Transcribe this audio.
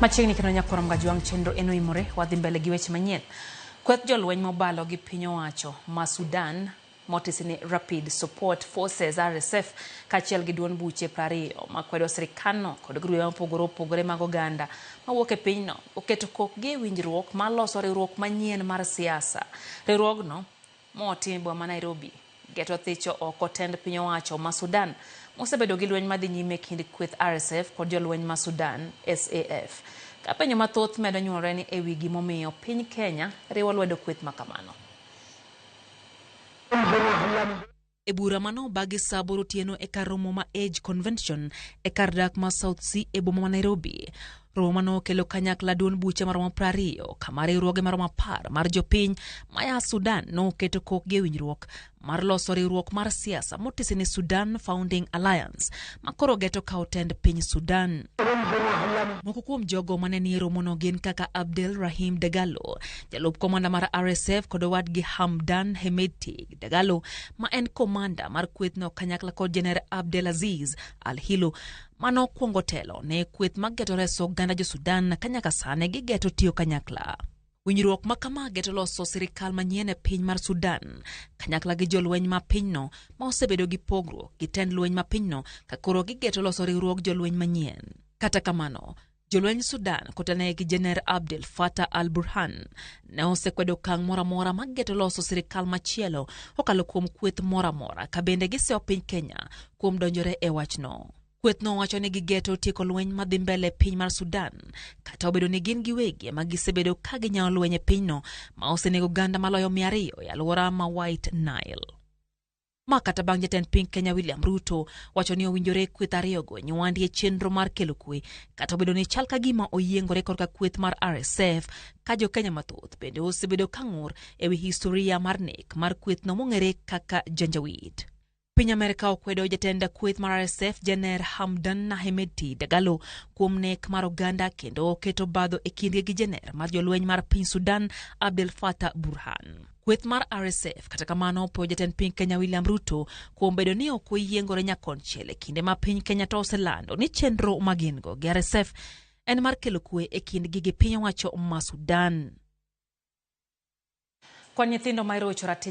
Machiegni kendo nyakwarom ga jwang' chenro en oimore wadhi mbele gi weche manyien. Kweth jolweny mobalo gi piny owacho ma Sudan motisi ni Rapid Support Forces RSF kaachiel gi duond buche prariyo makwedo sirikandno kod grube mopogore opogore mag oganda mawuok e pinyno oketo kokgi e winjruok maloso riwruok manyien mar siasa. Riwruogno Moti boma ma Nairobi. Get othicho oko tend piny owacho ma Sudan mosebedo gi lweny madhi nyime kind kweth RSF kod jolweny ma Sudan, SAF. Ka penjo mathoth medo nyuolre ni ewi gimomiyo piny Kenya riwo lwedo kweth makamano. E bura ma nobagi sa aboro otieno e kar romo ma Age Convention e kar dak ma South Sea e boma ma Nairobi. Romo ma nokelo kanyakla duond buche maromo prariyo kama riwruoge maromo apar mar jopiny maya Sudan noketo kokgi e winjruok mar loso riwruok mar siasa motisi ni Sudan Founding Alliance ma koro geto kawo tend piny Sudan. Moko kuom jogo ma ne nie romono gin kaka Abdel Rahim Dagalo, jalup komanda mar RSF kod owadgi Hamdan Hemedti. Dagalo ma en komanda mar kwethno kanyakla kod Jener Abdelaziz Al Hilo ma nokwongo telo ne kweth mag geto reso oganda jo Sudan ka nyaka sani gigeto tiyo kanyakla. Winjruok ma kama geto loso sirikal manyien e piny mar Sudan kanyakla gi jolweny ma pinyno ma osebedo gi pogruok gi tend lweny ma pinyno ka koro gigeto loso riwruog jolweny manyien. Kata kamano, Jolweny Sudan kotenore gi Jener Abdel Fattah al-Burhan ne osekwedo okang' moro amora ma geto loso sirikal machielo kokalo kuom kweth moro amora ka bende gisewo piny Kenya kuom donjore e wachno. Kwethno wacho ni gigeto tieko lweny madhi mbele e piny mar Sudan kata obedo ni gin giwegi ema gisebedo ka ginyawo lweny e pinyno ma osenego oganda maloyo mia ariyo e alwora ma White Nile. Ma kata bang' jatend piny Kenya William Ruto wacho ni owinjore kweth ariyogo nywandi e chenro mar kelo kwe, kata obedo ni chal ka gima oyiengore korka kweth mar RSF ka jo Kenya mathoth bende osebedo ka ng'ur e wi historia mar nek mar kwethno mong'ere kaka Janjaweed. Piny Amerka okwedo jatend kweth mar RSF Janer Hamdan Hemedti Dagalo kuom nek mar oganda kendo oketo badho e kindgi gi janer mar jolweny mar piny Sudan Abdel Fattah Burhan. kweth mar RSF. Kata kamano, opwoyo jatend piny Kenya William Ruto kuom bedo ni ok oyiengore nyakonchiel e kinde ma piny Kenya to oselando ni chenro ma gin-go gi RSF en mar kelo kwe e kindgi gi piny owacho ma Sudan. Kwan nyithindo ma irocho ratich